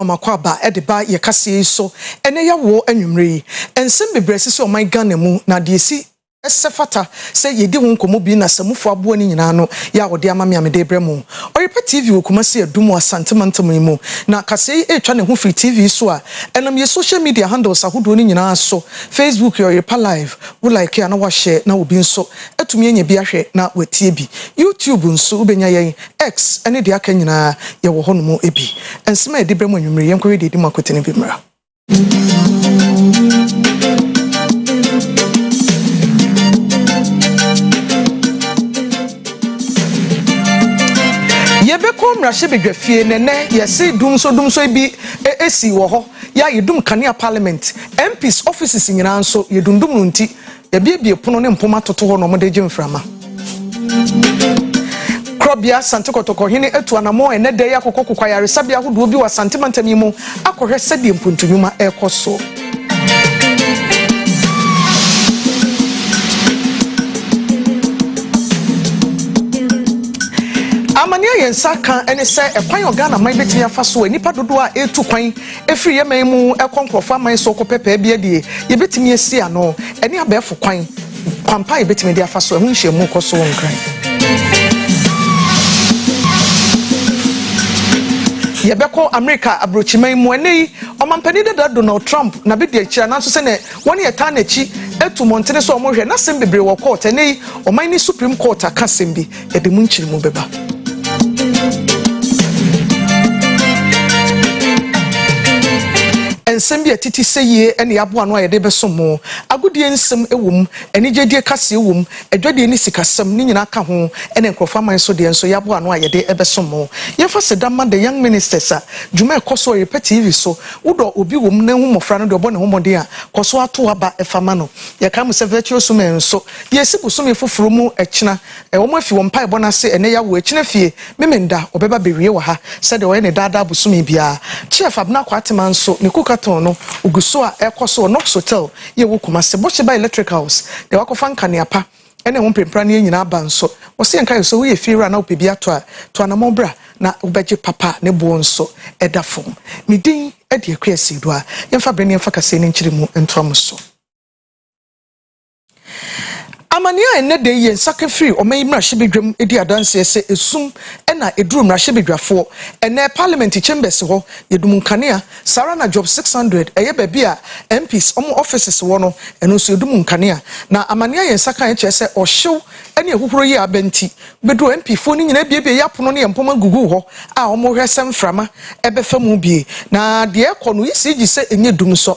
Wɔn akwaaba de ba yɛ kaseɛ yi so ɛnɛ yɛ awoɔ anwummerɛ yi. Nsɛm bebree asisi ɔman Ghana mu na deɛ ɛsi sɛ fata sɛ yɛdi ho nkɔmmɔ bi na Samufoɔ aboa no nyinaa no yɛ a ɔde ama me a mede rebrɛ mo. Ɔyɛpɛ TV wɔ Kumasi Adum wɔ Asante mantam yi mu na kaseɛ yi retwa ne ho firi TV yi so a ɛnam yɛn social media handles ahodoɔ no nyinaa so, Facebook yɛ Ɔyɛpɛ Live, wo like a na wo a share na obi nso atumi anya bi ahwɛ na watie bi. YouTube nso wobɛnya yɛn X ne deɛ aka nyinaa yɛwɔ hɔ nom bi. Nsɛm a yɛde brɛ mo anwummere yi, yɛnkɔhwɛ deɛ ɛdi mu akwete no bi mmra. Yɛbɛkɔ mmarahyɛbadwafie na ɛnnɛ yɛse dumsɔdumsɔ bi sii wɔ hɔ. Yɛa yɛdum kanea parliament, MPs offices nyinaa nso yɛdundum no nti, Yɛabiebie pono ne mpoma atoto hɔ na wɔde regye mframa. Korabea Asante Kɔtɔkɔhene atu anammɔn ɛnnɛ da yi akɔkɔ kokwa ayaresabea ahodoɔ bi wɔ Asante mantam yi mu akɔhwɛ sɛdeɛ mpuntunwuma rekɔ so. Amane a yɛn nsa ka ne sɛ ɛkwan a Ghana man betumi afa so a nnipa dodoɔ a ɛretu kwan Ɛfiri yɛn man mu kɔ nkurɔfoɔ aman so kɔpɛ pɛɛ bi adie, yɛbɛtumi asi ano. Ɛne abɛɛfo kwan, kwampa a yɛbɛtumi de afa so. Ɛho nhyiamu kɔ so wɔ Nkran. Yɛbɛkɔ Amerika abrokyiman mu. Ɛnnɛ yi, Ɔmampanin dada Donald Trump na bɛdi akyire anaa nso sɛdeɛ wɔn yɛ taa n'akyi atu mmɔntene so a wɔhwɛ n'asɛm bebree wɔ court. Ɛnnɛ yi, ɔman no Supreme Court aka asɛm bi. Ɛde mu nkyeremu bɛba. Nsɛm bi a ɛtete sɛ yie ne aboa ano a yɛde bɛsom mo, agodie nsɛm wom, anigyedie kaseɛ wom, adwadie ne sikasɛm, ne nyinaa ka ho, ɛna nkurɔfoɔ aman so deɛ nso yɛ aboa ano a yɛde bɛsom mo. Yɛmfa Seda mma The Young Ministers a dwuma a ɛkɔ so ɔyerepɛ TV so. Wodɔ obi wom na hu mmɔfra no deɛ ɔbɔ ne ho mmɔden a, kɔ so ara to aba fa ma no. Yɛkae mo sɛ Virtuous Women nso, yɛresi bosome foforɔ mu kyena. Ɛwɔ mu afi wɔ mpaebɔ no ase ɛnɛ ya wɔ akyina fie Memenda ɔbɛba bɛwie wɔ ha sɛdeɛ ɔyɛ ne daa daa bosome biara Chief Abena Kwatema nso ne Kukaton no ɔgu so a ɛkɔ so wɔ Nox Hotel yi ɛwɔ Kumasi Bokye ba Electric House deɛ wakɔfa nkanea pa ne ɛho mprenpraneɛ nyinaa aba nso Wɔse yɛnka yɛ sɛ woyɛ fie wura na wopɛ bi ato a to anamɔn bra na wobɛgye papa a ne boɔ nso da fam Me din de Akua Asieduaa Yɛmfa bere ne yɛmfa kaseɛ no nkyeremu ntoa mo so. Amanneɛ a ɛnnɛ da yi yɛ nsaka firi ɔman yi mmarahyɛbadwam di adanseɛ sɛ esum na ɛduru mmarahyɛbadwafoɔ. Ɛnnɛ, Parliament Chambers hɔ yɛ dum nkanea, saa ara na Job 600, ɛyɛ baabi a MPs wɔn offices wɔ no, ɛno nso yɛ dum nkanea. Na amanneɛ a yɛn nsa kaeɛ kyerɛ sɛ ɔhyew ne ahuhuro yi a aba nti, bɛduruu MPfoɔ no nyinaa abuebuei apono ne mpoma guguu hɔ a wɔrehwɛ sɛ mframa bɛfa mu bie. Na deɛ ɛrekɔ no, woyi sii gye sɛ ɛnyɛ dum nsɔ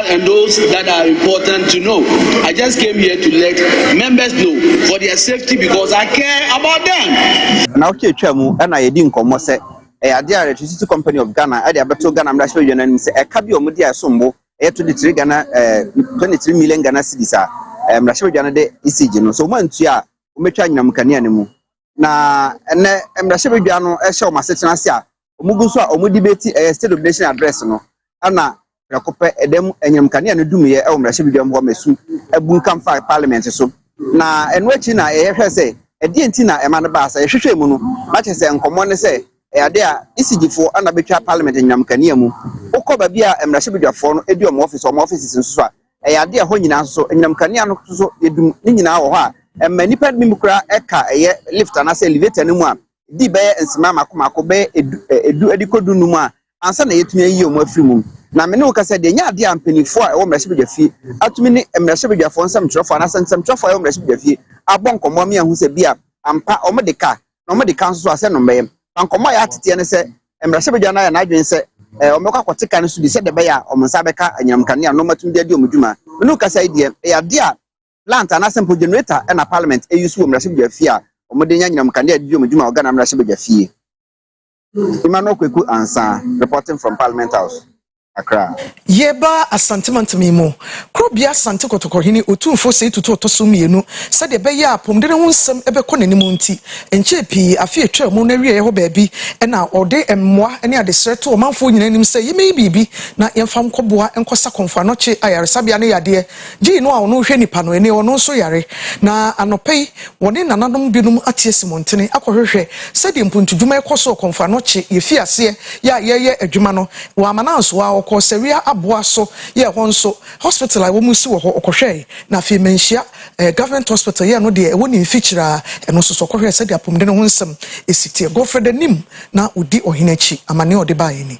and those that are important to know. I just came here to let members know for their safety because I care about them. na ɔkye atwa mu na yɛdi nkɔmmɔ sɛ ɛyɛ adeɛ a electricity company of ghana ɛde abɛto ghana mmarahyɛ badwa no anim sɛ ɛka bi a wɔde a ɛsom bo ɛyɛ 23 ghana eh, 23 million ghana cities a eh, mmarahyɛ badwa no de ecg no so wɔantua a wɔbɛtwa anyinam kanea no mu Na ɛnɛ mmarahyɛbadwa no hyɛ wɔn asetena ase a wɔgu so a wɔn debate ɛyɛ state of nation address no ɛna prɛko pɛ ɛda mu anyinam kanea no dumiɛ ɛwɔ mmarahyɛbadwa mu hɔ ma esu abunkam fa parliament so na ɛno akyi na yɛhwɛ sɛ ɛdeɛ nti na ɛma no baa sɛ yɛhwehwɛ mu no na kyerɛ sɛ nkɔmmɔ ne sɛ ɛyɛ ade a isigifoɔ ɛna betwa parliament anyinam kanea mu wokɔ baabi a mmarahyɛbadwafoɔ no edi wɔn office wɔn offices nso so a Ɛyɛ ade a ɛhɔ nyinaa soso. Anyinam kanea no soso yɛ dum. Ne nyinaa wɔ hɔ a, ɛma nnipa bi mu koraa ka ɛyɛ lift anaasɛ elevator no mu a ɛdi bɛyɛ nsimaa mmaako mmaako bɛyɛ edu edu de kɔ dunum a ansa na yɛatumi ayi wɔn afiri mu. Na me ne wo kasa deɛ, ɛnyɛ adeɛ a mpanimfoɔ a ɛwɔ mmarahyɛbadwafie atumi ne mmarahyɛbadwafoɔ nsɛmtwerɛfoɔ anaasɛ nsɛmtwerɛfoɔ a ɛwɔ mmarahyɛbadwafie abɔ nkɔmmɔ ama yɛahu sɛ ebia ampa wɔde ka na wɔde ka nso so a sɛ no mmɛyam. Na nkɔmmɔ a ɛyɛ ateteɛ ne sɛ mmarahyɛbadwa no ayɛ n'adwene sɛ wɔbɛkɔ akɔte ka no so bi sɛdeɛ ɛbɛyɛ a wɔn nsa bɛka anyinam nkanea no na wɔatumi de adi wɔn dwuma. Mene wo kasa yi deɛ, ɛyɛ adeɛ a plant anaasɛ mpo generator na Parliament use wɔ mmarahyɛbadwa fie a wɔde nya anyinam nkanea de di wɔn dwuma wɔ Ghana mmarahyɛbadwa fie. Emmanuel Kweku Ansah reporting from Parliament House, Accra. Yɛreba Asante Mantam yi mu Kurobea Asante Kɔtɔkɔhene Otumfoɔ Osei Tutu Ɔtɔso Mmienu sɛdeɛ ɛbɛyɛ a apɔmuden ho nsɛm bɛkɔ n'anim nti nkyɛɛ pii afe atwaa mu no awieɛ hɔ baabi na ɔde mmoa ne adesrɛ to ɔmanfoɔ nyinaa anim sɛ yɛmɛyi biribi na yɛmfa nkɔboa nkɔsa Kɔmfo Anɔkye Ayaresabea ne yadeɛ Gye no a ɔno rehwɛ nnipa no ani, ɔno nso yare. Na anɔpa yi, wɔne nananom binom ate asi mmɔntene akɔhwehwɛ sɛdeɛ mpuntudwuma rekɔ so wɔ Kɔmfoano kye yɛfii aseɛ yɛ a yɛreyɛ adwuma no wɔ Amanansoɔ ara. Wɔkɔɔ Sawia Aboa so yɛ ɛhɔ nso hospital a wɔn si wɔ hɔ, ɔkɔhwɛɛe. Na afei Manhyia Government Hospital yɛ ɛno deɛ ɛwɔ ne mfikyire ara, ɛno nso so ɔkɔhwɛɛ sɛdeɛ apɔmuden ho nsɛm si teɛ. Godfred anim na ɔdi ɔhene akyi, amaneɛ a ɔde baeɛ ni.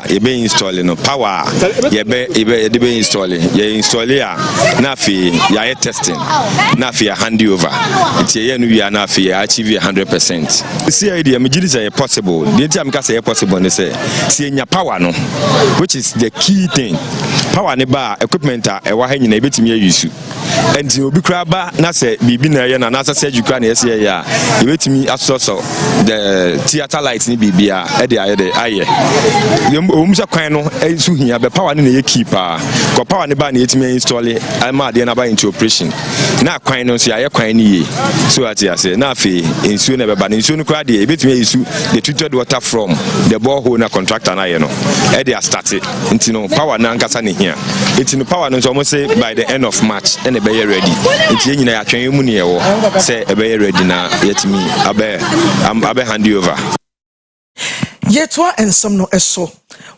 yɛbɛ install no power a yɛbɛ yɛbɛ yɛde bɛ install yɛ install a na afei yɛayɛ testing na afei yɛ hand over nti yɛyɛ no wia na afei yɛ achieve yɛ hundred percent. si yɛ deɛ megye di sɛ yɛ possible deɛ nti a meka sɛ yɛ possible ne sɛ si yɛnya power no which is the key thing power ne ba a equipment a ɛwɔ ha nyina yɛbɛtumi ayi su. Enti obi koraa ba na sɛ biribi na ɛyɛ no anaasɛ surgery koraa na ɛsɛ yɛyɛ a, yɛbɛtumi asosɔsɔ the theatre light ne biribiara de ayɛ dɛ ayɛ. Ɛwom sɛ kwan no nso hia bɛ power no na ɛyɛ key paa. Kɔ power no ba na yɛtumi installe ama adeɛ no aba into operation. Na kwan no nso yɛayɛ kwan no yie. So ate aseɛ. Na afei nsuo na ɛbɛba no. Nsuo no koraa deɛ yɛbɛtumi ayi su the treated water from the borehole na contractor no ayɛ no ɛde astate. nti no power no ankasa ne hia nti no power no nso wɔn se by the end of march ɛna ɛbɛyɛ ready nti yɛn nyinaa yɛatwɛn yɛn mu ne yɛwɔ sɛ ɛbɛyɛ ready na yɛtumi abɛ abɛ hand over. yɛtoa nsɛm no so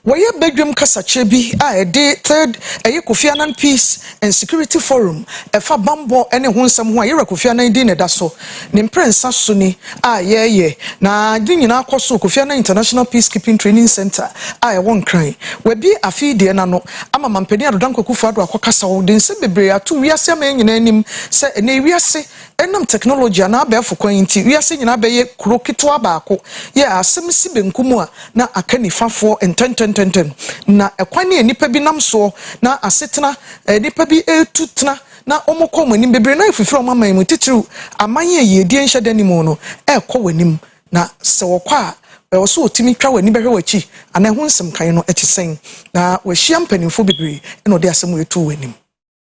wɔyɛ badwam kasakyerɛ bi a ɛde third ɛyɛ kofi annan peace. and Security Forum ɛfa bammɔ ne ho nsɛm ho a Yawura Kofi Annan din na ɛda so. Ne mprɛnsa so ni a yɛreyɛ na ne nyinaa kɔ so wɔ Kofi Annan International Peacekeeping Training Centre a ɛwɔ Nkran. Wɔabue afe yi deɛ no ano ama Mampanin Adodankwa Akufo-Addo akɔkasa. Ɔde nsɛm bebree ato wiase aman nyinaa anim sɛ ɛnnɛ yi wiase Ɛnam tɛknologyi anaa abɛɛfo kwan yi nti, wiase nyinaa bɛyɛ kuro ketewa baako. Yɛ a asɛm si benkum a, na aka nifa foɔ ntɛntɛntɛntɛn. Na ɛkwan a nnipa bi nam soɔ na asetena a nnipa bi retu tena na wɔkɔ wɔn anim bebree no ayɛ fifiri a wɔn aman mu, titiriw aman a yiedie nhyɛ da nni mu no, rekɔ wɔn anim. Na sɛ wɔkɔ a, ɛwɔ sɛ wɔtumi twa wɔn ani bɛhwɛ wɔn akyi anaa ɛho nsɛm kan no te sɛn. Na wɔahyia mpanimfoɔ bebree na wɔde asɛm retu wɔn anim.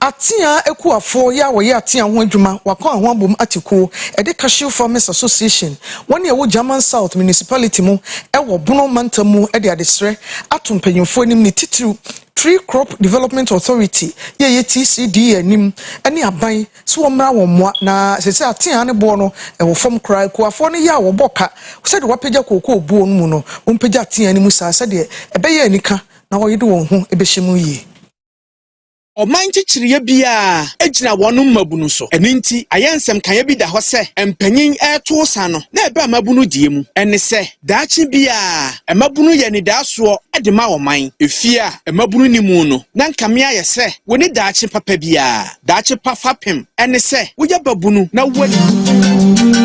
Atea akuafoɔ, yɛ a wɔyɛ atea ho adwuma, wɔakɔ Ahoabom Ate Kuo, ɛde Cashew Farmers Association, wɔn a ɛwɔ German South Municipality mu wɔ Bono Mantam mu de adesrɛ ato mpanyimfoɔ anim ne titiriw Tree Crop Development Authority, yɛ ɛyɛ TCDA anim ne aban sɛ wɔmmra wɔn mmoa na seesei atea no boɔ no wɔ fam koraa. Akuafoɔ no yɛ a wɔbɔ ka sɛdeɛ wɔapagya kookoo boɔ no mu no, wɔmpagya atea no mu saa sɛdeɛ ɛbɛyɛ a anika na wɔde wɔn ho bɛhyɛ mu yie. Ɔman nkyekyereɛ biara gyina wɔn mmabunu so. Ɛno nti, ayɛ nsɛm kaeɛ bi da hɔ sɛ mpanyin reto ɔsa no na ɛba mmabunu deɛ mu. Ɛne sɛ, daakye biara, mmabunu yɛ anidaasoɔ de ma ɔman. Efie a mmabunu nni mu no, na nkame ayɛ sɛ wɔnni daakye papa biara. Daakye pa fapem ne sɛ woyɛ babunu na woadi.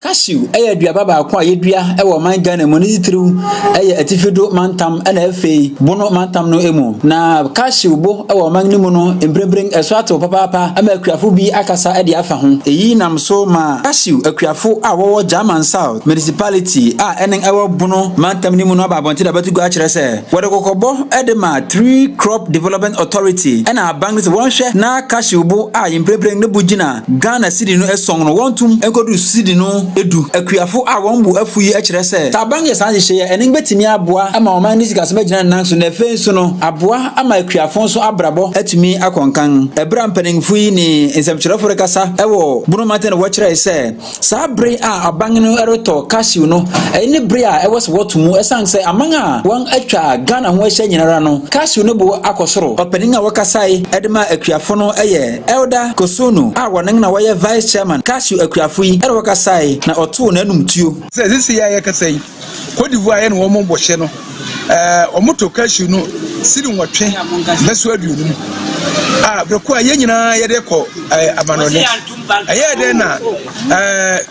Cashew yɛ aduaba baako a yɛdua wɔ ɔman Ghana mu ne titiriw yɛ atifi do mantam na afei bono mantam no mu. Na cashew bo wɔ ɔman no mu no mprempren ɛso atew papaapa ama akuafo bi akasa de afa ho. Eyi nam so ma cashew akuafo a wɔwɔ German South, Municipality a ɛne ɛwɔ Bono mantam no mu no aba abɔnten abɛto gua akyerɛ sɛ wɔde kɔkɔbɔ de ma Three Crop Development Authority na aban no sɛ wɔnhwɛ na cashew bo a mprempren ne bo gyina Ghana cedi no ason no wɔntom nkodu cedi no du. Akuafo a wɔn bo afuw yi kyerɛ sɛ sɛ aban no yɛ saa nhyehyɛe yi a, ɛno betumi aboa ama ɔman no sikasɛm agyina ne nan so na afei nso no aboa ama akuafo nso abrabɔ atumi akɔ nkan. Bere a mpanyimfo yi ne nsɛmkyerɛwfo rekasa wɔ Bono mantam no wɔkyerɛe sɛ, Saa bere a aban no retɔ cashew no, ɛyɛ ne bere a ɛwɔ sɛ wɔto mu esiane sɛ aman a wɔatwa Ghana ho ahyia nyinara no, cashew no bo akɔ soro. Ɔpanyin a wɔkasae de maa akuafo no yɛ Elder Kosunu a wɔne na wɔyɛ Vice Chairman Cashew akuafo yi na wɔkasae na ɔtoo n'anum tuo. Sɛ sisi yi a yɛkasa yi, Côte d'Ivoire yɛ ne wɔn bɔhyɛ no, ɛɛ wɔn tɔ cashew no siri nwɔtwe bɛso aduonum a breko a yɛn nyinaa yɛde kɔ ɛɛ amanɔne. Ɛyɛ dɛ na ɛɛ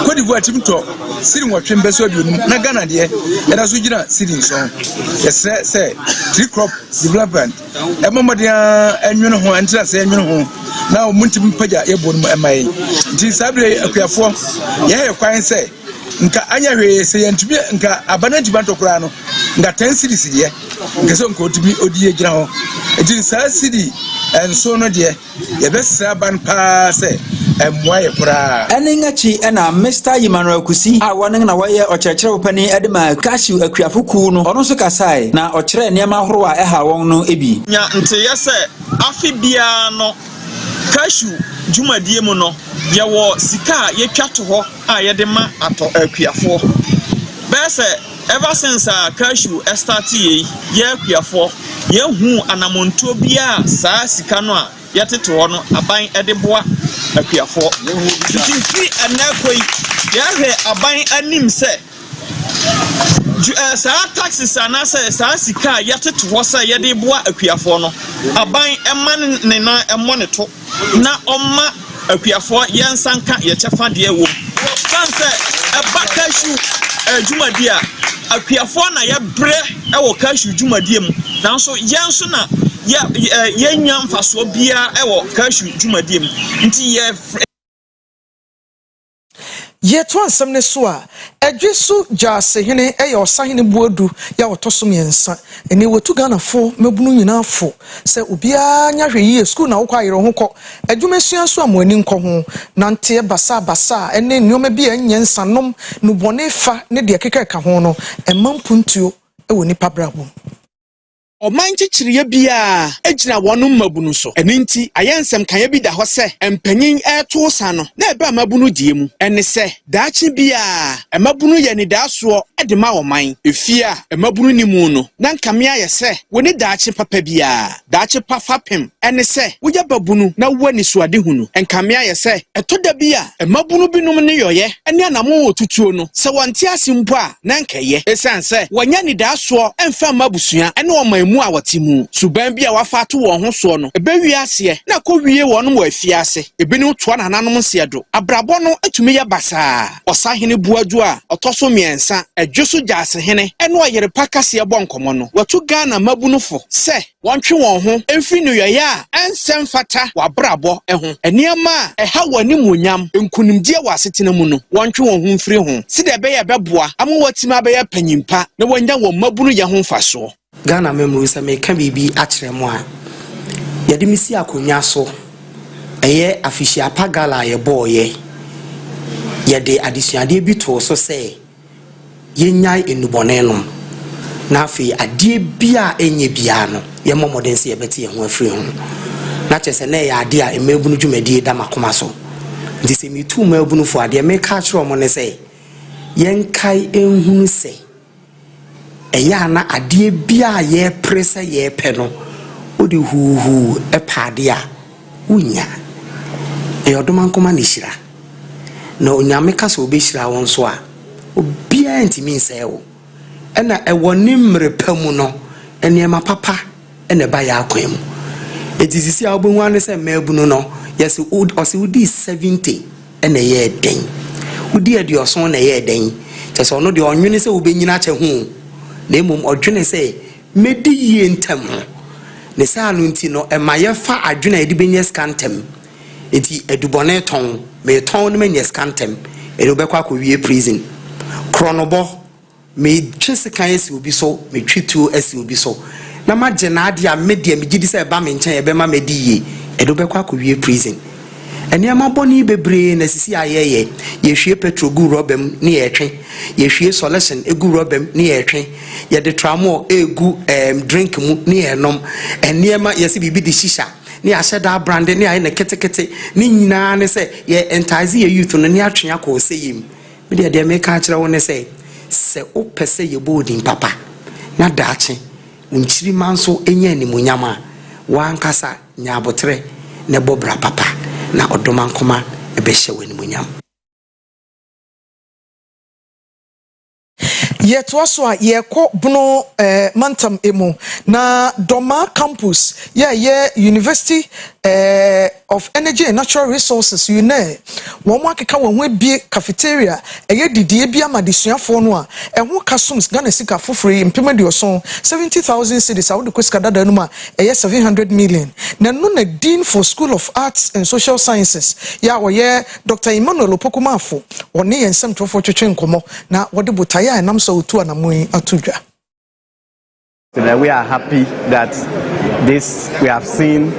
Côte d'Ivoire tim tɔ siri nwɔtwe bɛso aduonum na Ghana deɛ ɛda so gyina siri nson. Yɛsrɛ sɛ tree crop development ɛmɔ mmɔden a ɛnwene ho ɛntena sɛ ɛnwene ho na wɔn ntim mpagya yɛboɔ no mu ɛma yɛn. Nti saa bere akuafoɔ yɛyɛ kwan sɛ. nka anyɛ hwee sɛ yɛntumi nka aba no antumi antɔ koraa no nka ten series deɛ nka sɛ nka ɔtumi ɔdi yɛ gyina hɔ nti saa sidi nso no deɛ yɛbɛsrɛ aban paa sɛ ɛmmoa yɛ koraa. Ɛne akyi na Mister Emmanuel Kusi a wɔne na wɔyɛ ɔkyerɛkyerɛfo panyin de ma Cashew akuafo kuw no, ɔno nso kasae na ɔkyerɛɛ nneɛma ahorow a ɛhaw wɔn no bi. Nya nteeɛ sɛ afe biara no Cashew dwumadie mu no yɛwɔ sika a yɛtwa to hɔ a yɛde ma atɔ akuafoɔ bɛyɛ sɛ ever since a cashew starte yei yɛ akuafoɔ yɛ huu anamontuo biaa saa sika no a yɛtete hɔ no aban de boa akuafoɔ nti firi ɛnɛ kɔ yi yɛ hwɛ aban anim sɛ Ju eh, saa taxes anaasɛ saa sika a yɛtete hɔ sɛ yɛde boa akuafoɔ no, aban mma ne ne nan mmɔ ne to na ɔmma akuafoɔ yɛn nsa nka yɛn kyɛfa deɛ ɛwɔ mu. Ɛsiane sɛ ɛba cashew eh, dwumadie a, akuafoɔ na yɛbrɛ wɔ cashew dwumadie mu, nanso yɛn nso na yɛ, eh, yɛnnya mfasoɔ biara wɔ cashew dwumadie mu. Nti yɛ Yɛtoa nsɛm no so a, Adwe so Gyasehene yɛ Ɔsahene Boadu yɛ a ɔtɔ so mmiɛnsa. Ɛnnɛ watu Ghanafo mmabunu nyinaa fo sɛ obiara nyɛ ahwɛyie, sukuu na wokɔ a yere wo ho kɔ, adwuma sua nso a mo ani nkɔ ho, nanteɛ basaa basaa ne nnoɔma bi a ɛnyɛ nsa nom, nnubɔne fa ne deɛ ɛkeka ɛka ho no, ɛmma mpuntuo wɔ nnipa abrabɔ mu. Ɔman nkyekyereɛ biara gyina wɔn mmabunu so. Ɛno nti, ayɛ nsɛm kaeɛ bi da hɔ sɛ mpanyin reto san no na ɛba mmabunu deɛ mu. Ɛne sɛ, daakye biara, mmabunu yɛ anidaasoɔ de ma ɔman. Efie a mmabunu nni mu no, na nka me ayɛ sɛ wɔnni daakye papa biara. Daakye pa fapem Ɛne sɛ, woyɛ babunu na wowɔ anisoadehu no. Ɛnkame ayɛ sɛ, ɛtɔ da bi a mmabunu binom nneyɔeɛ ne anammɔn a wɔtutuo no, sɛ wɔnte ase mpo a, na anka ɛyɛ ɛsiane sɛ wɔnyɛ anidasoɔ mfa mma abusua ne ɔman mu a wɔte mu. Suban bi a wɔafa ato wɔn ho soɔ no, ɛbɛwie aseɛ na akɔwie wɔnom wɔ afiase. Ebinom toa nananom nseɛdo. Abrabɔ no tumi yɛ basaa. Ɔsahene Boadu a ɔtɔ so mmiɛnsa, Adwoso Gyasehene ne Ɔyerepa Kaseɛ bɔ nkɔmmɔ no, wɔatu Ghana mmabunu fo sɛ, wɔntwe wɔn ho mfiri nneyɔeɛ a ɛnsɛ mfata w'abrabɔ ho, nneɛma a ɛha w'animuonyam, nkunimdie wɔ asetena mu no, wɔntwe wɔn ho mfiri ho sɛdeɛ ɛbɛyɛ a ɛbɛboa ama wɔatumi abɛyɛ apanyin pa na wɔanya wɔn mmabunuyɛ ho mfasoɔ. Ghana amammuo, sɛ mereka biribi akyerɛ mo a, yɛde me si akonnwa so, ɛyɛ Afehyia Pa Gala a yɛbɔeɛ, yɛde adesuadeɛ bi too so sɛ, yɛnnyae nnubɔne nom, na afei adeɛ biara a ɛnyɛ biara no, yɛmmɔ mmɔden sɛ yɛbɛte yɛn ho afiri ho. Na kyerɛ sɛ na ɛyɛ adeɛ a mmaabunu dwumadie da m'akoma so. Nti sɛ metu mmaabunu fo a, deɛ meka akyerɛ wɔn ne sɛ, yɛnkae nhunu sɛ, ɛyɛ a na adeɛ biara a yɛpere sɛ yɛpɛ no, wode huuhuu pɛ adeɛ a, Wonnya. Ɛyɛ ɔdomankoma ne hyira. Na Onyame ka sɛ ɔbɛhyira wo nso a, obiara ntumi nsɛe wo. Ɛna ɛwɔ ne mmerɛ pa mu no, nneɛma papa na ɛba yɛn akwan mu. Enti sisi a wobɛhu ara ne sɛ mmaabunu no, yes, ɔse wodii 70 na ɛyɛɛ dɛn? Wodii aduɔson na ɛyɛɛ dɛn? Kyerɛ sɛ ɔno deɛ ɔnnwene sɛ wobɛnyini akyɛ ho o, na mmom ɔdwene sɛ Medi yie ntɛm ho. Ne saa no nti no, ɛma yɛfa adwene a yɛde bɛnya sika ntɛm. Enti adubɔne tɔn, metɔn na manya sika ntɛm. Ɛnna wobɛkɔ akɔwie prison. Korɔnobɔ, metwe sekan asi obi so, metwe tuo asi obi so, na magye n'adeɛ a me deɛ megye di sɛ ɛba me nkyɛn a ɛbɛma madi yie. Ɛnna wobɛkɔ akɔwie prison. Nneɛma bɔne bebree na sisi a yɛyɛ. Yehwie petrol gu rɔba mu na yɛtwe. Yehwie sɔlehyen gu rɔba mu na yɛtwe. Yɛde tramol regu ɛɛm drink mu na yɛnom. Nneɛma, yɛse biribi de shisha na yɛahyɛ da abrande na yɛayɛ no ketekete. Ne nyinaa ne sɛ yɛ entice yɛ youth no na yɛatwe akɔ ɔsɛeɛ mu. Me deɛ, deɛ meka akyerɛ wo ne sɛ, sɛ wopɛ sɛ yɛbɔ wo din papa na daakye wo nkyirimma nso nya animuonyam a, w'ankasa Nya aboterɛ na bɔ bra papa, na ɔdomankoma bɛhyɛ wo animuonyam. Yɛtoa so a yɛkɔ Bono eh, mantam mu na Dɔma Campus yɛ a yɛ University eh, of Energy and Natural Resources, UNER, wɔn akeka wɔn ho abie cafeteria ɛyɛ didie bi ama adesuafoɔ no a ɛho ka sums Ghana sika foforo yi mpem aduɔson, 70,000 cedis a wode kɔ sika dadaa no mu a ɛyɛ seven hundred million, na ɛno na Dean for School of Arts and Social Sciences yɛ a ɔyɛ Dɔkta Emmanuel Opoku Marfo, ɔne yɛn nsɛmtwerɛfoɔ twetwee nkɔmmɔ na wɔde botaeɛ a ɛnam so a wɔtu anammɔn yi ato dwa. That we are happy that this we have seen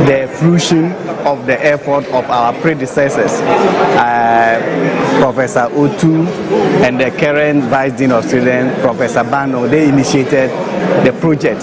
the fruition of the effort of our predecessors, uh, Professor Otu and the current Vice Dean of Students, Professor Bano. They initiated the project.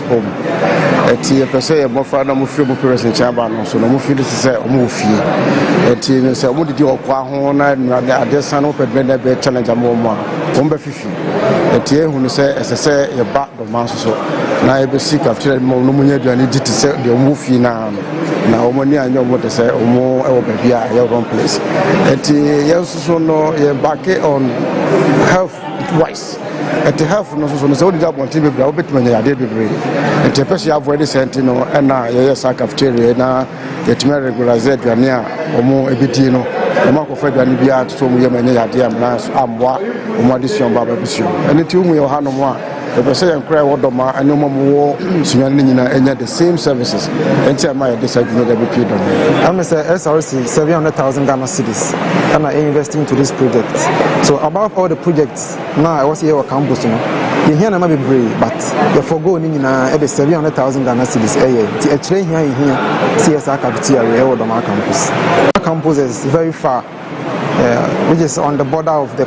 home ɛti yɛpɛ sɛ yɛ mmɔfra na wɔfiri mu parents nkyɛn aba no so na wɔfiri no sɛ wɔn wɔ fie ɛti no sɛ wɔn didi ɔkɔ aho na nnura de adeɛ san wɔn pɛdɛn dɛ bɛyɛ challenge ama wɔn a wɔn bɛ fifi ɛti yɛn hu no sɛ ɛsɛ sɛ yɛba dɔmaa nso so na yɛbɛsi kafeteria no ma wɔn mu nyɛ aduane di te sɛ deɛ wɔn wɔ fie na ano na wɔn ani anyɛ wɔn de sɛ wɔn wɔ baabi a ɛyɛ wrong place ɛti yɛn nso so no yɛn baake on health wise. Yes. Ɛte health no nso so no, sɛ wodidi abɔnten bebree a wobɛtumi anya yadeɛ bebree. Nti ɛpɛ sɛ yɛ avoid saa nti no ɛna yɛyɛ saa cafeteria na yɛtumi aregularize aduane a wɔn ɛbɛdie no. Wɔn akɔfa aduane biara nto so wɔn yam ɛnyɛ yadeɛ amena nso ammoa wɔn adesua ba abɛbusua. Ɛno nti wohu yɛ wɔ hanom a yɛpɛ sɛ yɛn koraa ɛwɔ dɔma ɛne wɔn a wɔwɔ sunyane no nyinaa ɛnya the same services. Ɛnti ɛma yɛde saa dwuma de abɛpie dɔma. Ɛme sɛ SRC 700,000 Ghana cedis na yɛ invest into this project so above all the projects na ɛwɔ sɛ yɛwɔ campus no yɛhia nneɛma bebree but yɛ forgo ne nyinaa ɛde seven hundred thousand ghana cedis ɛyɛ nti ɛkyerɛ hia yɛhia sɛ yɛ saa cafeteria wei ɛwɔ dɔmaa campus campus is very far uh, which is on the border of the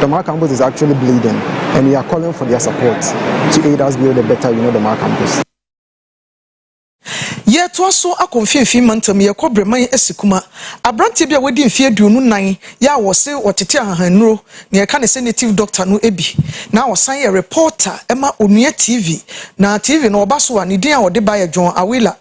Dɔmaa campus is actually bleeding and we are calling for their support to aid us build a better you know Dɔmaa campus. Yɛretoa so akɔ Mfinimfini Mantam, yɛrekɔ Breman Asikuma. Aberanteɛ bi a wadi mfeɛ aduonu nnan yɛ a wɔse ɔtete ahahanuro, nea yɛka ne sɛ native doctor no bi, na ɔsan yɛ reporter ma Onua TV. Na TV no ɔba so a, ne din a ɔde ba yɛ John Awillah.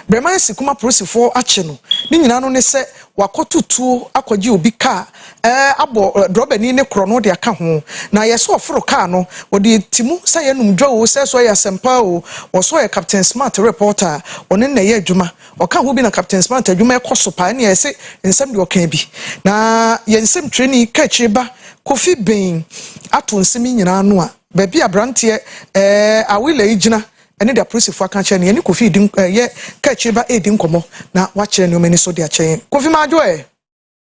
Bremansi Kuma polisifɔɔ akye no, ne nyinaa no ne sɛ wakɔ to tuo akɔgye obi kaa ɛɛ abɔ drɔbani ne korɔno de aka ho na ayɛ sɛ ɔforo kaa no wɔde ti mu sɛ yɛ nom dwa oo sɛ so ɛyɛ asɛmpa oo wɔ so ɔyɛ Captain Smart reporter a ɔne na ɛyɛ adwuma ɔka ho bi na Captain Smart adwuma ɛkɔ so paa ɛne ayɛ sɛ nsɛm deɛ ɔkaa bi na yɛ nsɛm twerɛni ka akyire ba Kofi Ben ato nsɛm yi nyinaa ano a baabi abranteɛ ɛɛ Awilɛyi gyina ne de apolisifo aka akyerɛ no, yɛne Kofi redi nk ɛɛ yɛ kaakyire ba redi nkɔmmɔ, na wakyerɛ nneɛma ani so de akyɛ yɛn. Kofi Madwo ɛ?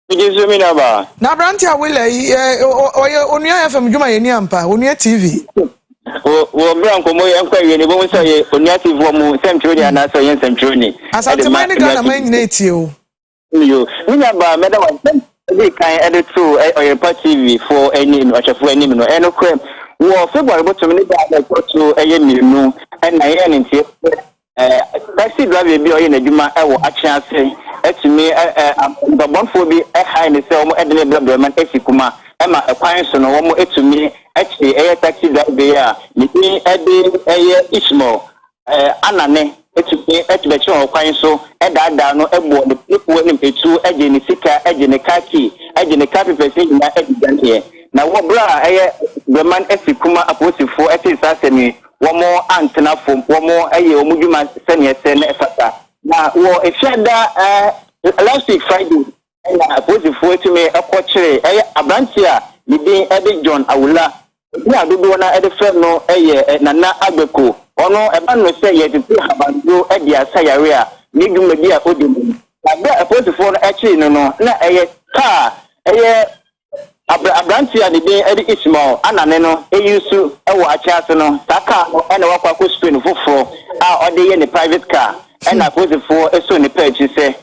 Megye nso me nuabaa. Na aberante a woyɛ yi, ɛ ɔ ɔ ɔyɛ Onua FM dwumayɛni ampa, Onua TV. Wɔ wɔ bere a nkɔmmɔ yi nkɔ awiei no, yɛbɛhu sɛ ɔyɛ Onua TV wɔn mu nsɛmtwerɛni anaasɛ ɔyɛ nsɛmtwerɛni de ma Onua TV. Asanteman ne Ghanaman nyinaa retie wo. Yo, me nuabaa, mɛda wo ase. Ɛdii kan ɛde too Ɔyɛrepa TV fo ɛni ɔhwɛfo ɛnim no. Ɛno korɛ, wɔ February bosome ne da a ɛtɔ so ɛyɛ mmienu ɛna yɛyɛ ne nteɛ sɛ ɛɛ taxi driver bi a ɔyɛ n'adwuma ɛwɔ Atwe ase ɛtumi ɛɛ abɔbɔnfoɔ bi ɛhae ne sɛ wɔn ɛde ne brɛ brɛma no ɛsi kuma ɛma ɛkwan so no wɔn ɛtumi ɛkye ɛyɛ taxi driver yi a ne din ɛde ɛyɛ Ishmael anane tumi de bɛkyerɛ ɔkwan so daadaa no bɔ ne piripoɔ anim tuo gye ne sika gye ne car key gye ne car papers no nyinaa de dwaneeɛ. Na wɔ berɛ a ɛyɛ Breman Asikuma apolisifoɔ tee saa asɛm yi, wɔantena fam, wɔyɛɛ wɔn dwuma sɛdeɛ ɛsɛ na ɛfata. Na wɔ Fiada last week Friday na apolisifoɔ tumi kɔ kyeree ɛyɛ aberanteɛ a ne din de John Awula, edin a dodoɔ no ara de frɛ no yɛ Nana Agbeko, ɔno ɛba no sɛ yɛtete habanduro de asa yareɛ a ne dwumadi a ɔdi no. Na berɛ a apolisifoɔ no kyeree no no, na ɛyɛ kaa ɛyɛ Abrɛ aberanteɛ a ne din de Ismael a nane no ayi nsu wɔ akyɛn ase no saa kaa no na wakɔ akɔ spray no foforɔ a ɔde yɛ ne private car ɛna apolisifoɔ soo ne pɛ akyiri sɛ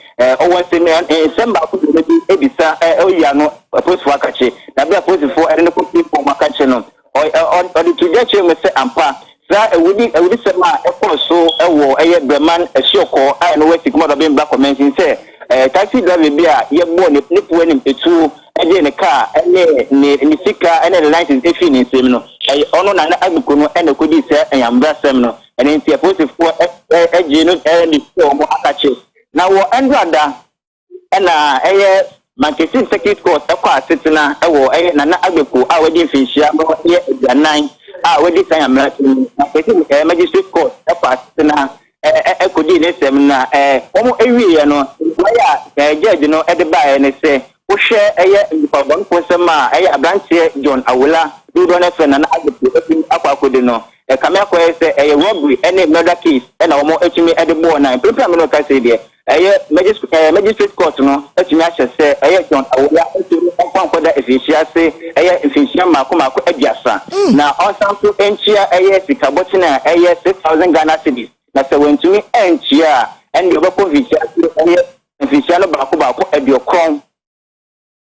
ɔwɔ nsɛm nsɛm baako mmienu bi bisa ɔyi ano apolisifoɔ akakye na berɛ a apolisifoɔ de no kɔ police hɔ wɔakakye no Ɔ, ɔ, ɔ, ɔde to dwa kyerɛɛ mu sɛ ampa saa awudi, awudisɛm a ɛkɔɔ so wɔ ɛyɛ Breman asuɔkɔɔ a ɛno wɔ Sikmadɔ Bembla Kɔmɛnsin sɛ ɛɛ taksi driver bi a yɛbɔɔ ne, ne po anim etuo gyee ne kaa ne ne, ne sika ne ne license efii ne nsam no. Ɛyɛ ɔno, Nana Agbeku no, na ɛkɔdii saa anyambrasɛm no. Ɛno nti apolisifoɔ ɛ, ɛ, gyee no ɛ, de hyɛɛ wɔn akakye. Na wɔ Ndrada. na ɛyɛ Mankesim Circuit Court kɔ asetena wɔ ɛyɛ Nana Agbeko a wadi mfinhyia no yɛ aduanan a wadi kan amena so no Mankesim ɛɛ Magistrate Court kɔ asetena ɛɛ kɔdii ne nsɛm na ɛɛ wɔn ɛwieɛ no mmuaeɛ a ɛɛ judge no ɛde baeɛ ne sɛ wohwɛ ɛyɛ nnipabɔnefo nsɛm a ɛyɛ abranteɛ John Awola dodoɔ no ɛfrɛ Nana Agbeko ɛtumi akɔ akɔdi no ɛkame akɔyɛ sɛ ɛyɛ robbery ɛne murder case ɛna wɔn ɛtumi ɛde bɔɔ na mprempren a me ne wo kasa yi deɛ Ɛyɛ Magis ɛɛ Magistrate Court no atumi ahyɛ sɛ ɛyɛ John Awuya Ato no mfa nkɔda mfinhyia ase ɛyɛ mfinhyia mmaako mmaako aduasa, na ɔnsan nso ntua ɛyɛ sika bɔkyen a ɛyɛ six thousand Ghana cedis, na sɛ wantumi antua a, ɛnneɛ ɔbɛkɔ mfinhyia ase ɛyɛ mfinhyia no baako baako aduokron.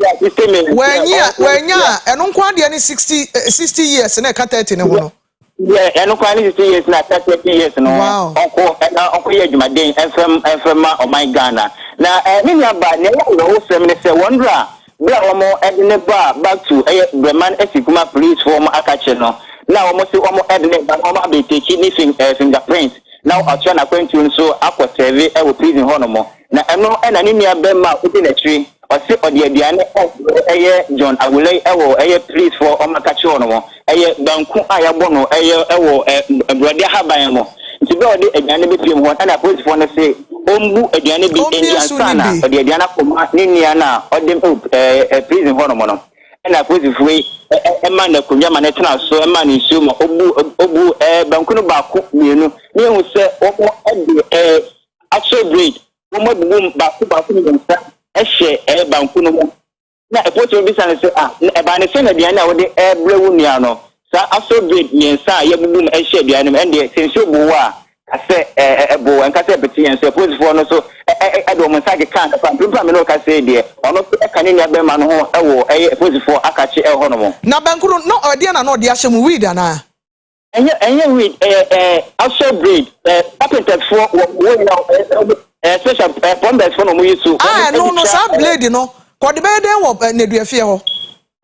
wɔanyi a wɔanya a ɛno nko adeɛ ne sixty eh, sixty years na ɛka thirty ne ho no. yɛ ɛno kwan ne sixty years na ɛka thirty years no Wow. ɔkɔ ɛna ɔkɔ yɛ adwumaden ɛnfɛm ɛnfɛma ɔman ghana na ɛɛ ne nua ba nea ɛyɛ awerɛho sɛm ne sɛ wɔn dora bere a wɔn ɛde ne ba back to ɛyɛ brɛman ɛsi kuma police fo wɔn akakye no na wɔn se wɔn ɛde ne ba no wɔn abɛtɛkyi ne fing ɛɛ fingerprint na ɔtoa n'akwantuo no so akɔ sɛve ɛwɔ prison hɔ nom. Na ɛno na ne nua bɛma a odi nakyire ɔse ɔde aduane a ɛyɛ John awulai ɛwɔ ɛyɛ please foɔ ɔma ka kyerɛ ɔnomo ɛyɛ banku a yabɔ no ɛyɛ ɛwɔ ɛ brɔde ahaban ɛmo nti bɛ ɔde aduane no bɛ piem hɔ ɛna apolisi foɔ no se ɔmbu aduane bi ɛndi ansa na ɔde aduane akɔ ma ne nua no a ɔde no ɛ ɛ prison hɔ nom no ɛna apolisi foɔ yi ɛ ɛ ɛma no akonwa ma no tena so ɛma no nsuo ma ɔbu ɔbu ɛ banku no baako mienu na ehu sɛ ɔmo ɛde ɛ Axel Breed, wɔabubu mu baako baako mmiɛnsa hyɛ ɛɛ banku no mu. Na ɛpolisini bisa no sɛ, Ah, na ɛbaa ne sɛn na aduane a wode rebrɛ wo nua no, saa Axel Breed mmiɛnsa a yɛabubu mu hyɛ aduane no mu, ɛndeɛ sɛ nsuo boo wo a, ka sɛ ɛɛ ɛboo wo, ɛnka sɛ ɛpete yɛn nso. Apolisifoɔ no nso ɛɛ de wɔn nsa kekaa no paa. Mprempren a me ne wo rekasa yi deɛ, ɔno nso ɛka ne nua barima no ho wɔ ɛɛ apolisifoɔ akakye ɛwɔ hɔnom. Na banku no, na ɔyɛ deɛn na na ɔde ahyɛ mu, weed anaa? ɛnyɛ ɛnyɛ weed ɛyɛ ɛɛ asɔ braid ɛɛ carpenters foɔ wɔ wɔ nyina ɛɛ ɛɛ special ɛɛ plumbers foɔ na wɔn yi so. a ɛno no saa blade no kɔde bɛyɛ dɛn wɔ nneduafie hɔ.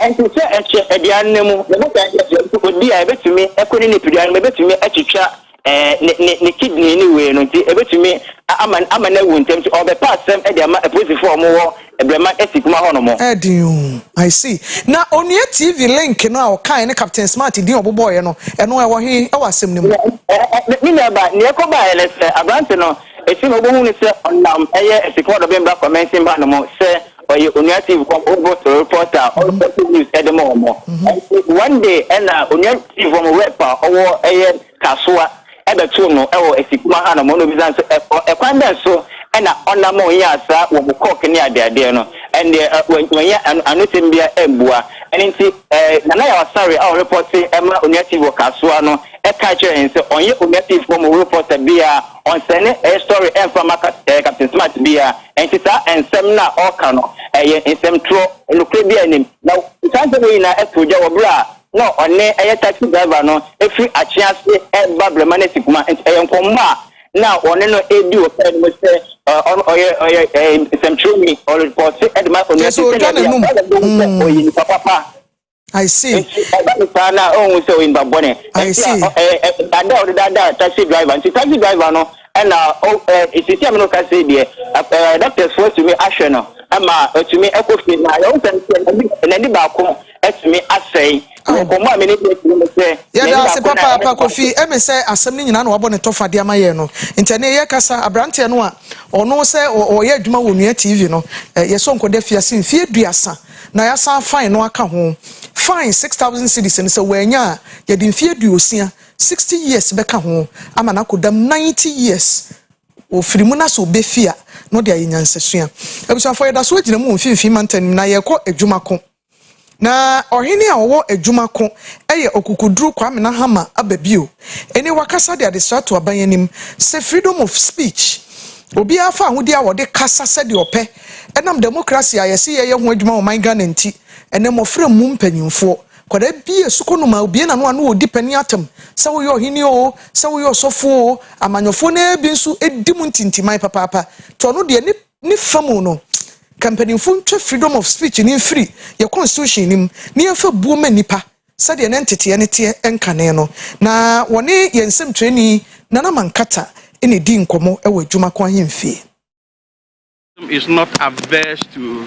ɛnti sɛ ɛhyɛ aduane no mu ɛbɛka ɛyɛ sɛ obi a ɛbɛtumi ɛkɔ ne nipadua no mu ɛbɛtumi atwitwa ɛɛ ne ne ne kidney ne wei no nti ɛbɛtumi ama ama no awu ntɛm nti ɔbɛpa asɛm ɛde ama apolisifoɔ a wɔn wɔ Ɛbrɛma ɛsi kuma hɔ nom. Ɛyɛ den o. I see. Na Onua TV link no a ɔkaeɛ ne Captain Smart din a ɔbobɔeɛ no, ɛno ɛwɔ he wɔ asɛm no mu? Me nua ba, nea ɛkɔ baeɛ ne sɛ, aberante no, ɛfiri no wobɛhu no sɛ ɔnam ɛyɛ Asukuma Dɔbem Bra Convention ba no mu sɛ ɔyɛ Onua TV fam Oboto reporter a ɔrekɔto news de ma wɔn. Ɛnti one day ɛna Onua TV fam rep a ɔwɔ ɛyɛ kasoa bɛtoo no wɔ Asikuma hanom na obisa no sɛ, Ɔ, ɛkwan bɛn so na ɔnam a onyaa saa wɔn kɔɔk ne adeadeɛ no? Ɛndeɛ ɛ, wan, wannya ano, anosɛm biara ambua. Ɛno nti ɛ, Nana Yaw Asare a ɔrepɔte ma Onua TV wɔ kasoa no kae kyerɛɛ yɛn sɛ ɔnyɛ Onua TV fam repɔta biara, ɔnsɛne ɛ, story mfa ma ka, ɛ, Captain Smart biara. Ɛnti saa ɛ, nsɛm no a ɔreka no, ɛyɛ nsɛm torɔ, nokorɛ biara nnim. Na saa nsɛm wei nyinaa too gya wɔ berɛ a na ɔne ɛyɛ taxi driver no firi Akyea ase reba Brema no asi Kuma nti ɛyɛ nkɔmmɔ a na ɔne no redi wɔ kaa no mu sɛ ɔno ɔyɛ ɔyɛ nsɛmtwerɛni ɔrepɔse de ma onua ti sɛdeɛ ɛbɛyɛ ɔyɛ bɛhu sɛ hmm. ɔyɛ nipa papa I see. Nti ɛba ne saa na ɔhu sɛ ɔyɛ nipa bɔne. I see. Nti a ɛda ɔde daadaa taxi driver nti taxi driver no ɛna sisi a mi no ka se deɛ ɛɛ doctors fo atumi ahwɛ no ɛma atumi ɛkɔ fie na yɛn sɛ n'ani baako atumi asɛe me nkɔmmɔ a me ne Betty no mu sɛ yɛn ani baako na ɛne Kofi. Ɛne sɛ asɛm no nyinaa na wabɔ ne tɔfa de ama yɛn no nti, ɛne yɛ kasa abranteɛ no a ɔno sɛ ɔyɛ adwuma wɔ Nua TV no, yɛ Sonko da fiase mfie duasa na yɛasan fine no aka ho. Fine 6000 cedis no sɛ wannya a yɛde mfie aduosia, 60 years, bɛka ho ama no akɔ dam 90 years ɔfiri mu na sɛ ɔbɛfi a na ɔde ayɛ nyansasua. Abusuafoɔ yɛda so gyina mu wɔ mfimfini mantam no mu na yɛrekɔ adwuma ko. Na ɔhene a ɔwɔ adwuma ko yɛ Ɔkokoduru Kwame Nahama aba bio ene wakasa de adesra to aban anim sɛ freedom of speech, obiara fa ahodi a ɔde kasa sɛdeɛ ɔpɛ ɛnam democracy a yɛse yɛyɛ ho adwuma wɔ man Ghana nti. Ɛnɛ mmɔfra mmu mpanyinfoɔ. Kwadaa bi a sukuu no maa obie n'ano a na ɔredi panin atam sɛ woyɛ ɔhene oo, sɛ woyɛ ɔsɔfoɔ oo, amanyɔfoɔ no ara bi nso di mu ntintiman papaapa nti ɔno deɛ ne ne fa mu no, ka mpanyimfo ntwa freedom of speech no mfiri yɛn constitution no mu na yɛmfa buo mma nnipa sɛdeɛ na nteteɛ no teɛ nkane no. Na wɔne yɛn nsɛmtwerɛni Nana Mankata na ɛdii nkɔmmɔ wɔ Adwuma Ko Ahemfie. is not averse to.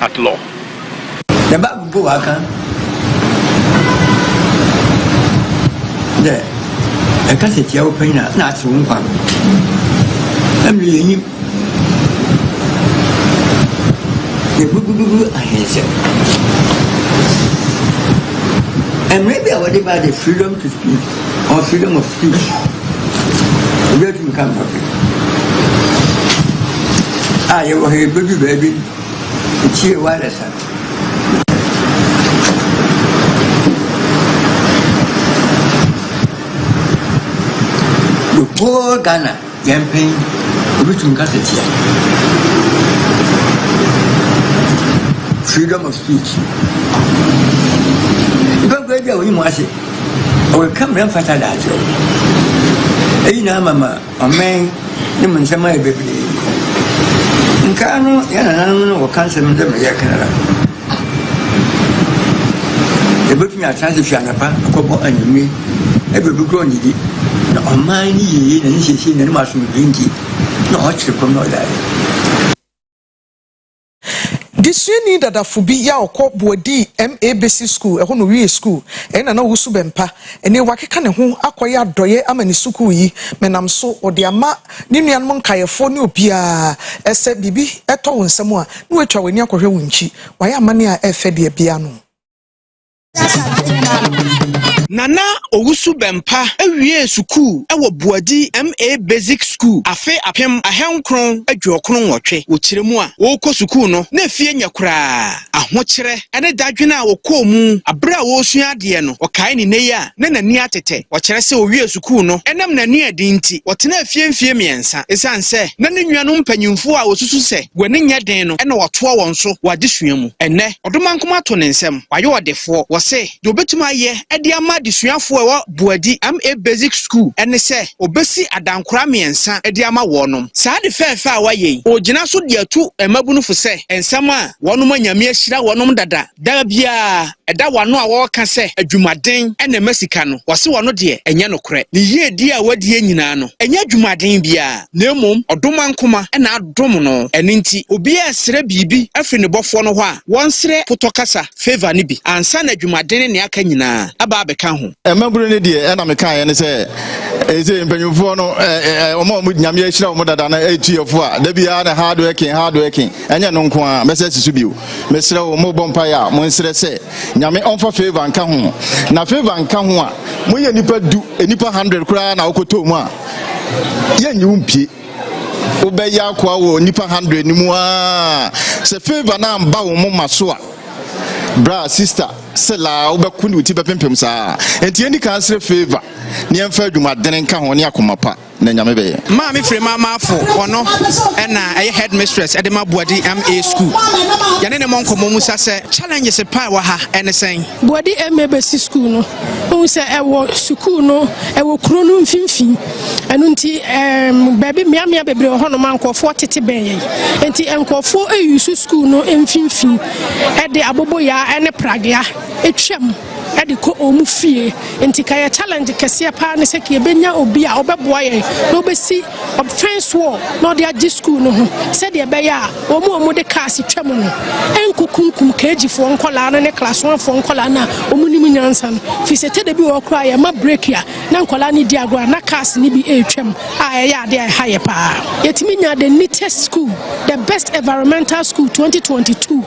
at law. The Bible mpo aka dɛ ɛkasa tia wo panyin a na ase wo nkwa no ɛmɛ yɛnyim yɛgugugugu ahensɛ mmerɛ bi a wɔde baa de freedom to speak or freedom of speech obi atumi ka mpɔpe a yɛwɔ ha yɛbɛdu baabi Ekyir wireless a. The whole Ghana yɛn pɛn obetumi kasa tia freedom of speech. Ibɛnkɔ ebi a wɔyi mu ase ɔkeka mmerɛ mfata da akyerɛ wo. Eyi na ama ma. Amen ne mo nsɛm ayɛ bebree. Nkaa no yɛ nananom no wɔka nsɛm no dɛ ma yɛka no ara. Yɛbɛtumi atena ase fi anapa akɔbɔ anwummerɛ ɛbɛ obi korɔ ɔnnidi na ɔman ne yie na ne siesie na ne mu asomdwe nti na ɔkyere kɔm na ɔdaeɛ. Desuani dadafo bi yɛ a ɔkɔ boa dii MA basic school ɛhɔ na owiee school ɛyɛ na na ɔresu bɛmpa ɛnɛ wakeka ne ho akɔyɛ adɔyɛ ama ne sukuu yi menam so ɔde ama ne nuanom nkaeɛfoɔ ne obiara ɛsɛ biribi ɛtɔ wo nsam a na watwa wani akɔhwɛ wo nkyi wayɛ amanneɛ a ɛfɛ deɛ bia no Nana Owusu Bɛmpa wiee sukuu wɔ Boadi MA Basic School afe apem ahankron aduokron nwɔtwe. Wɔ kyerɛ mu a ɔrekɔ sukuu no, na afie nyɛ koraa. Ahokyerɛ ne dadwen a ɔkɔɔ mu bere a ɔresua adeɛ no, ɔkae ne nnɛ yi a na n'ani atete. Wɔkyerɛ sɛ ɔwiee sukuu no ɛnam n'ani a ɛden nti, ɔtenaa fie mfeɛ mmiɛnsa. Ɛsiane sɛ na ne nuanom mpanyimfoɔ a wɔsusu sɛ Wɔ ne nyɛ den no na ɔtoa wɔn so wɔ adesua mu. Ɛnnɛ, Ɔdomankoma ato ne nsam. Wayɛ ɔdefoɔ. Wɔse, deɛ ɔbɛtumi ayɛ de ama adesuafoɔ a ɛwɔ Boadi MA Basic School ne sɛ ɔbɛsi adankora mmiɛnsa de ama wɔnom. Saa ade fɛɛfɛ a wayɛ yi, ɔregyina so de atu mmabunufo sɛ nsɛm a wɔnom a Nyame ahyira wɔnom dada, Da biara, ɛda w'ano a wɔreka sɛ adwumaden na ɛma sika no, wɔse wɔno deɛ ɛnyɛ nokorɛ. Ne yiedie a wadie nyinaa no, ɛnyɛ adwumaden biara, na mmom ɔdomankoma na adom no. Ɛno nti, obiara resrɛ biribi afiri ne Bɔfoɔ no hɔ a, wɔnsrɛ potɔkasa, favour, no bi ansa na adwumaden ne nea aka nyinaa aba abɛka ho. Mmabunu no deɛ ɛna mekaeɛ ne sɛ, seesei mpanyimfoɔ no, wɔn a wɔde Nyame ahyira wɔn dada no, ɛretu yɛn fo a, da biara na hard working, hard working. Ɛnyɛ ɛno nko ara, mɛsɛ si so bio. Mesrɛ wo, mobɔ mpaeɛ a, monsrɛ sɛ Nyame ɔmfa favor nka ho. Na favor nka ho a, moyɛ nnipa du, nnipa hundred koraa na wokɔtɔɔ mu a, yɛnnye wo mpie. Wobɛyɛ akoa wɔ nnipa hundred no mu aa. Sɛ favor no amba wo moma so a, bra, sister, selaa, wobɛko ne wo ti bɛpempem saa. Enti yɛnni kan nsrɛ favor na yɛmfa adwumadene nka ho ne akoma pa. na nyame bɛyɛ. Maame Firima Marfo, ɔno na ɛyɛ headmistress de ma Boadi MA School. Yɛne ne mmɔ nkɔmmɔ mu sa sɛ challenges pa ɛwɔ ha ɛne sɛn? Boadi MA bɛsi school no, wohu sɛ ɛwɔ sukuu no ɛwɔ kuro no mfimfini. Ɛno nti ɛɛm baabi mmeammea bebree wɔ hɔnom a nkurɔfoɔ tete bɛn yɛn. Nti nkurɔfoɔ ayusu school no mfimfini de aboboyaa ne pragea atwam. de kɔ wɔn fie. Nti ka yɛ challenge kɛseɛ paa ne sɛ ka yɛbɛnya obi a ɔbɛboa yɛn na ɔbɛsi fence wall na ɔde agye school no ho sɛdeɛ ɛbɛyɛ a wɔn a wɔde cars twa mu no ɛnkɔkunkum KG foɔ nkɔlaa no ne class one foɔ nkɔlaa no a wɔn nim nyansa no firi sɛ tɛdɛ bi wɔ hɔ koraa yɛma break a na nkɔlaa no di agorɔ a na cars no bi ɛretwam a ɛyɛ adeɛ a ɛha yɛ paa. Yɛtumi nya the neatest school, the best environmental school 2022.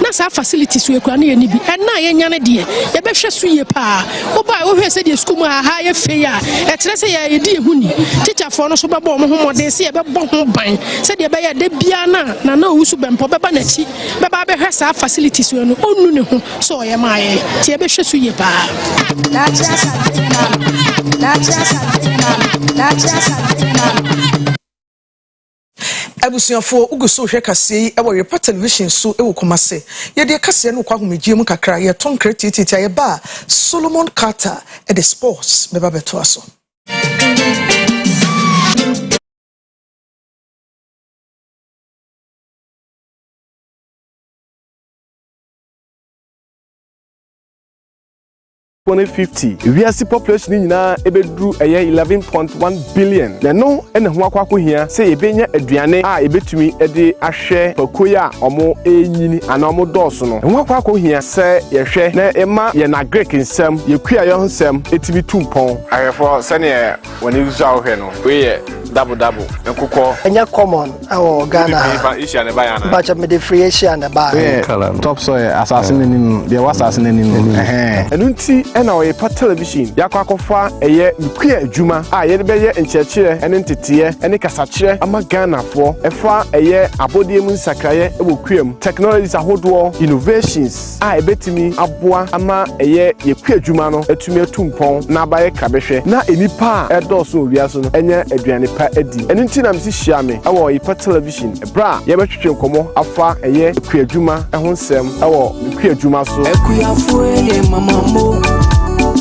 Na saa facility so akura no yɛ ne bi. Ɛnna a yɛnya no deɛ, yɛbɛhwɛ so yie paa. Wobae a, wohwɛɛ sɛdeɛ sukuu mu ha ayɛ fɛ yi a, ɛkyerɛ sɛ yɛn a yɛdi yɛn ho ni. Tikyafoɔ no nso bɛbɔɔ wɔn ho mmɔden sɛ yɛbɛbɔ ho ban sɛdeɛ ɛbɛyɛ a da biara no a Nana Owusu Bɛmpa bɛba n'akyi bɛba abɛhwɛ saa facility so no, ɔnnu ne ho sɛ ɔyɛ maa yɛn. Nti yɛbɛhwɛ so yie paa. Abusuafoɔ, wo gu so rehwɛ kaseɛ yi wɔ Yopa Television so wɔ Kumasi. Yɛdeɛ kaseɛ no kɔ ahomegyeɛ mu kakra, yɛto nkra tiatiati a yɛba a, Solomon Carter de sports bɛba bɛtoa so. twenty fifty wiase population no nyinaa ebeduru ɛyɛ eleven point one billion na ɛno na ɛho akɔ akɔhia sɛ yɛbɛnya aduane a yɛbɛtumi de ahwɛ pakuo yi a wɔrenyini anaa wɔdɔɔso no ɛho akɔ akɔhia sɛ yɛhwɛ na ɛma yɛn agric nsɛm yɛn kuayɔ nsɛm ɛtumi tu mpɔn. Ahwɛfoɔ sɛdeɛ Wɔ ne nsu a wohwɛ no, wei yɛ double double nkokɔ. Ɛnyɛ common ɛwɔ Ghana ha. Nipa Asia na ɛbaeɛ anaa? Bakyɛ mede firi Asia na ɛbaeɛ. Wei yɛ top soil asase no anim no, deɛ ɛwɔ asase no anim no. Ɛno nti na ɔrepa television de akɔ akɔfa ɛyɛ nukua adwuma a yɛde bɛyɛ nkyerɛkyerɛ ne nteteɛ ne kasakyerɛ ama Ghanafoɔ ɛfa ɛyɛ abɔdeɛ mu nsakraeɛ wɔ kua mu, technologies ahodoɔ, innovations. a ebetumi aboa ama ɛyɛ yɛ kuadwuma no atumi atu mpɔn na aba yɛ krabɛhwɛ na nnipa a ɛredɔɔso wɔ wiase no anya aduane pa adi. Ɛno nti na mise hyia me wɔ Ɔyepa Television bere a yɛbɛtwetwe nkɔmmɔ afa ɛyɛ kuadwuma ho nsɛm wɔ me kuadwuma so. Akuafoɔ yɛ mama mo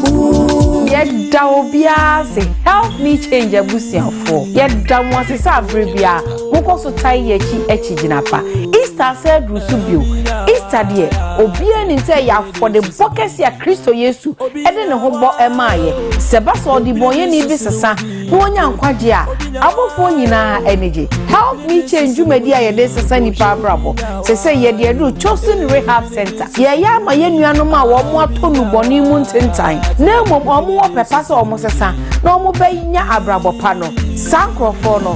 ooh. Yɛda obiara ase, Help Me Change abusuafoɔ. Yɛda mo ase sɛ aberɛ biara. Mokɔ so tae yɛ akyi akyi gyina pa. Easter asa aduru so bio. Easter deɛ, obiara nim sɛ ɛyɛ afɔdebɔ kɛse a Kristo Yesu de ne ho bɔ maa yɛ. Sɛ ɛba sɛ ɔdebɔnyɛni bi sesa na wanya nkwagye a, abɔfoɔ nyinaa ani gye. Help Me Change dwumadi a yɛde sesa nnipa abrabɔ. Seesei yɛde aduru Chosen Rehab Center. Yɛreyɛ ama yɛn nuanom a wɔatɔ nnubɔne mu ntentan na mmom wɔwɔ pɛ pa sɛ wɔsesa na wɔbɛnya abrabɔ pa no. Saa nkurɔfoɔ no,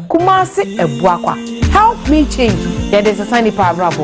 Kumasi Abuakwa help me change yɛde nsesa nnipa abrabɔ.